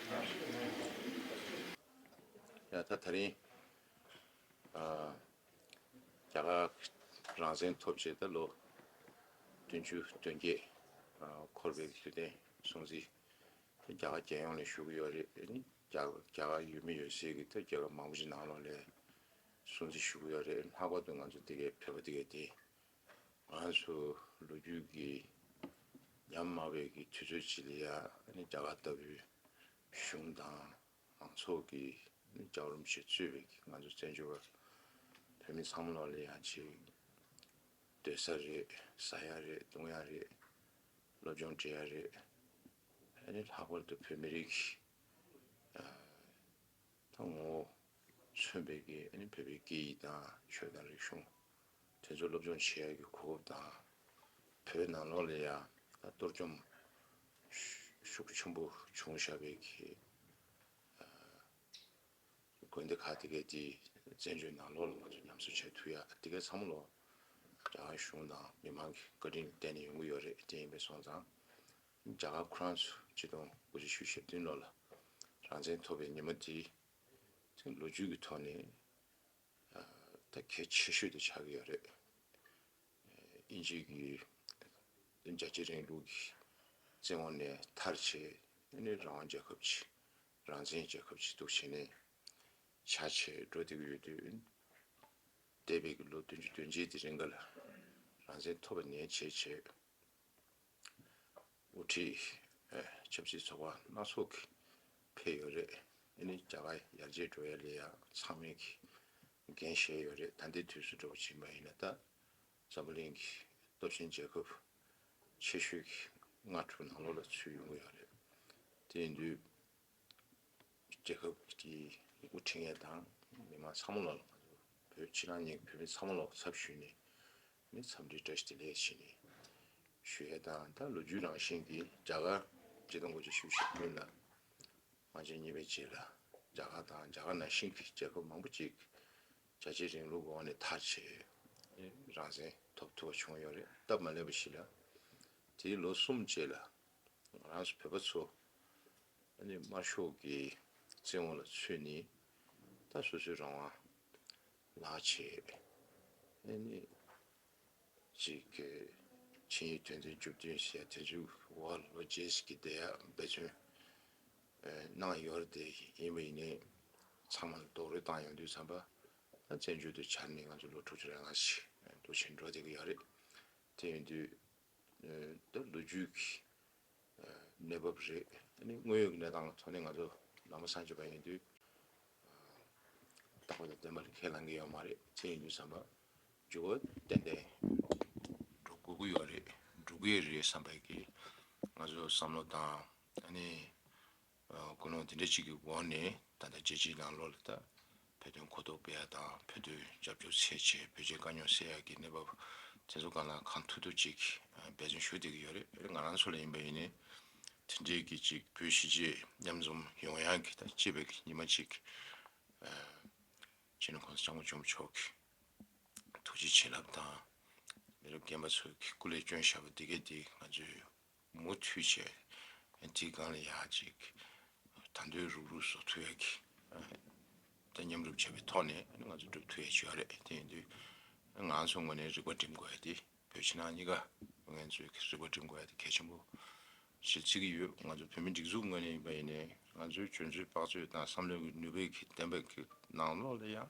ཡང་ད་ད་རིང་རྒྱ་གར་རང་བཙན་ཐོབ་རྗེས་ད་ལོ་བདུན་ཅུ་དོན་བརྒྱད་འཁོར་བའི་དུས་དྲན་སྲུང་བརྩི་རྒྱ་གར་རྒྱལ་ཡོངས་ནས་ཞུ་གི་ཡོད་རེད་ནི་རྒྱ་རྒྱ་གར་ཡུལ་མི་ཡོད་སའི་གི་ད་རྒྱལ་ཁབ་མང་པོ་ཞིག་ནང་ལོགས་ལས་སྲུང་བརྩི་ཞུ་གི་ཡོད་རེད་ལྷག་པར་དུ་ང་ཚོ་འདི་གའི་བོད་པ་འདི་གའི་དེ་ང་ཚོ་ལོ་རྒྱུས་ཀྱི་ཉམས་སྨྲ་བས་ཀྱི་དུས་ཚོད་ཅིག་ལ་ཡང་རྒྱ་གར་ལྟ་བུའི་གཞུང་དང་མང་ཚོགས་ཀྱི་ལྕགས་རོམ་ཞིག་བཙུད་པས་ཀྱི་ང་ཚོ་བཙན་བྱོལ་བ་བོད་མི་ཚང་མ་ལོག་ལེ་ཡང་ཅིག་སྡོད་ས་རེད་ཟ་ཡ་རེད་འཐུང་ཡ་རེད་སློབ་སྦྱོང་བྲེལ་ཡ་རེད་ཨ་ནི་ལྷག་པར་དུ་བོད་མི་རིགས་ཀྱི་ད་ངོ་བོ་མཚོན་པས་ཀྱི་ཨ་ནི་བོད་པའི་སྐད་ཡིག་དང་ཆོས་དང་རིག་གཞུང། དེ་ཚོ་སློབ་སྦྱོང་བྱེད་ཡག་གི་གོ་སྐབས་དང། བོད་ནང་ལོགས་ལས་ཡང་གཏོར་བཅོམ་ཤུགས་ཆེན་པོ་བྱུང་ཞབས་པའི་གི་དགོན་སྡེ་ཁག་དེ་གའི་དེ་བཙན་བྱོལ་ནང་ལོགས་ལ་ང་ཚོ་ཉམས་གསོ་བྱ་ཐུབ་ཡག་དེ་གའི་ཚང་མ་ལོགས་རྒྱ་གར་གཞུང་དང་མི་མང་གི་བཀའ་དྲིན་བརྟེན་ནས་ཡོང་གི་ཡོད་རེད་དེ་ཡིན་པའི་སོང་ཙང་རྒྱ་གར་ཁོ་རང་ཚོ་སྤྱི་སྟོང་དགུ་བཅུ་ཞུ་ཞེ་བདུན་ལོར་ལ་རང་བཙན་ཐོབ་པའི་ཉིན་མོ་དེའི་ལོ་རྒྱུས་ཀྱི་ཐོག་ནས། ད་གལ་ཆེ་ཤོས་དེ་ཆགས་ཀྱི་ཡོད་རེད། དབྱིན་ཇི་གི་རྒྱལ་གཅེས་རིང་ལུགས་ཀྱི་བཙན་འོག་ནས་ཐར་ཆེད་ནི་རང་དབང་རྒྱལ་ཁབ་ཀྱི་རང་བཙན་རྒྱལ་ཁབ་ཀྱི་གཏུགས་བྱེད་ནས་བྱ་ཆེད་འགྲོ་བསྡད་ཀྱི་ཡོད་དུས། འདས་པའི་ལོ་བདུན་ཅུ་བདུན་བརྒྱད་དེ་རིང་ག་ལ་རང་བཙན་ཐོབ་པ་ནས་བྱེད་ཆེད་དབུ་ཁྲིད་ཆབ་སྲིད་ཚོགས་པ་སྣ་ཚོགས་ཀྱི་ཕེབས་ཡོད་རེད་དེ་ནི་རྒྱ་གར་ཡར་རྒྱས་འགྲོ་ཡ་ལས་ཡང་ཚང་མས་ཀྱི་འགན་བཞེས་ཡོད་རེད་ད་འདི་དུས་སུ་འགྲོ་བ་ཇི་མ་ཡིན་ན་ད་འཛམ་བུ་གླིང་གི་སྟོབས་ཆེན་རྒྱལ་ཁབ་ཆེ་ཤོས་ཀྱི་སྔ་དྲོ་ནང་ལོག་ལ་ཚུད་ཡོང་གི་ཡོད་རེད་དེ་ཡིན་དུས། རྒྱལ་ཁབ་ཀྱི་དབུ་ཁྲིད་ངེད་དང་མི་མང་ཚང་མ་ལ་ང་ཚོ་བོད་ཕྱི་ནང་གཉིས་ཀྱི་བོད་མི་ཚང་མ་ལ་ཚབ་ཞུས་ནས་ནས་འཚམས་འདྲི་བཀྲ་ཤིས་བདེ་ལེགས་བྱས་ནས་ཞུ་ཡས་དང་ད་ལོ་རྒྱུས་རང་བཞིན་གྱི་རྒྱ་གར་སྤྱི་དང་གོ་ཆ་ཞུ་བཞིན་ཡོད་ལ། ང་བཅས་གཉིས་པའི་རྗེས་ལ་རྒྱ་གར་དང་རྒྱ་གར་ནང་བཞིན་གྱི་རྒྱལ་ཁབ་མང་པོ་ཅིག་རྒྱལ་གཅེས་རིང་ལུགས་འོག་ནས་མཐར་བྱེད་རང་བཙན་ཐོབ་ཐུབ་པ་བྱུང་ཡོད་རེད་སྟབས་མ་ལེགས་པ་ཞིག་ལ། དེའི་ལོ་གསུམ་རྗེས་ལ། ང་རང་ཚོ་བོད་པ་ཚོ་ཨ་ནུས་དམར་ཤོག་གི་བཙན་འོག་ལ་ཚུད་ནས་ད་སོ་སོའི་རང་དབང་ལག་བྱས་ཨ་ནི་ཅིག་གི་ཆིངས་ཡིག་དོན་ཚན་བཅུ་བདུན་ཞེས་དེ་ཚོའི་བར་ལོ་རྗེས་ཀྱི་བརྡ་ཡག་འབད་བརྩོན་གནང་ཡོད་རེད་དེ་ཡིན་པ་ཡིན་ནའི་ཚང་མ་ལ་རྡོག་རོལ་བཏང་ཡོང་དུས་བསམ་པ་ད་བཙན་བྱོལ་དུ་བྱར་ནས་ང་ཚོ་ལོ་དྲུག་ཅུ་རེ་ལྔ་ཞིག་འདུག་བཞིན་འགྲོ་བསྡད་ཀྱི་ཡོད་རེད་དེ་ཡིན་དུས་དེ་ལོ་རྒྱུས་ཀྱི་གནས་བབ་རེད། དངོས་ཡོད་ཀྱི་གནས་སྟངས་ཐོག་ནས་ང་ཚོ་ནང་པ་སང་ཆོས་པ་ཡིན་དུས། བདག་པོ་དང་བདེན་པ་ལ་ཁས་བླང་གི་ཡོད་མ་རེད་ཚད་ཡིན་དུས་བསམ་པ་འཇུག་གོ་ཏན་ཏན་འགྲོ་དགོས་ཀྱི་ཡོད་རེད་འགྲོ་གི་རེད་བསམ་པའི་ང་ཚོ་བསམ་བློ་དང། ཀུན་སློང་འདི་འདྲ་ཅིག་གི་འོག་ནས་ད་ལྟ་རྒྱལ་སྤྱིའི་ནང་ལོགས་ལ་ད་བོད་དོན་གོ་རྟོགས་སྤེལ་ཡག་དང་བོད་དོན་རྒྱབ་སྐྱོར་ཚད་ཆེ་བོད་ཆས་དཀའ་རྙོག་སེལ་ཡག་གི་གནས་བབ་དེ་ཚོ་གང་ལ་གང་ཐུག་ཐུག་ཅིག་འབད་བརྩོན་ཞུ་བསྡད་ཀྱི་ཡོད་རེད་ང་རང་ཚོ་ལ་ཡིན་པ་ཡིན་ནའི་དེ་འདྲའི་གི་ཅིག་བོད་གཞིས་བྱེས་མཉམ་འཛོམ་ཡོང་ཡག་གི་ད་གཅེས་པའི་གི་ཉི་མ་ཅིག་ཅེས་ནས་གོང་ས་སྐྱབས་མགོན་མཆོག་མཆོག་གི་ཐུགས་རྗེ་བྱིན་རླབས་དང་མི་རབས་རྒན་པ་ཚོའི་གི་སྐུ་ལས་སྐྱོན་ཞབས་པ་འདི་གས་འདི་ང་ཚོའི། མུ་མཐུད་བྱས། དེའི་སྒང་ལ་ཡང་ཅིག་དར་མདོའི་རུག་རུག་བཟོ་མཐུ་ཡས་ཀྱིས་དེ་མཉམ་སྒྲུབ་བྱས་པའི་ཐོག་ནས་ང་ཚོ་སྒྲུབ་མཐུ་ཡས་བྱོས་བ་རེད་དེ་ཡིན་དུས་ང་ཚོ་ངོས་ནས་རིག་པ་སྒྲིམ་དགོས་ཡ་དེ་བོད་ཕྱི་ནང་གཉིས་ཀ་ངན་ཚོས་རིག་པ་སྒྲིམ་དགོས་ཡ་དེ་གལ་ཆེན་པོ་ཞེས་བརྩི་གི་ཡོད་ང་ཚོ་བོད་མི་སྒྲིག་འཛུགས་ངོས་ནས་ཡིན་པ་ཡིན་ནས་ང་ཚོའི་བྱོན་ཚུལ་དཔག་ཚུལ་དང་བསམ་བློའི་ནུས་པའི་གི་གདེང་འབེབས་ཀྱི་ནང་ལོགས་ལ་ཡང་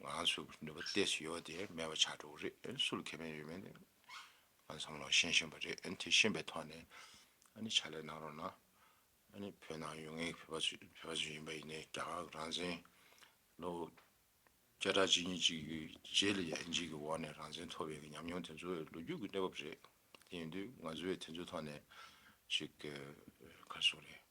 ང་ཚོ་ནུས་པ་སྟེ་ཞིག་ཡོད་དེ་མེད་པ་ཆགས་འགྲོ་གི་རེད་སུ་ལ་ཁེ་ཕན་ཡོད་མེད་ང་ཚོ་བསམ་བློ་ཞན་ཞན་པ་རེད་དེ་ཞན་པའི་ཐོག་ནས་ཨ་ནི་ཕྱག་ལས་གནང་རོགས་གནང་ཨ་ནི་བོད་ནང་ཡོད་ངེས་བོད་པ་ཚོ་བོད་པ་ཚོ་ཡིན་པ་ཡིན་ནའི་རྒྱ་གར་གྱི་རང་བཙན་ལོ་བརྒྱ་ཕྲག་གཅིག་གཉིས་གཅིག་གི་རྗེས་ལ་ཡན་ཆད་ཀྱི་འོག་ནས་རང་བཙན་ཐོབ་ཡོད་ཀྱི་ཉམས་མྱོང་དེ་ཚོ་ལོ་རྒྱུས་ཀྱི་གནས་བབ་རེད་དེ་ཡིན་དུས་ང་ཚོས་དེ་ཚོའི་ཐོག་ནས་ཞིག་ག་རེ་བྱུང་རེད།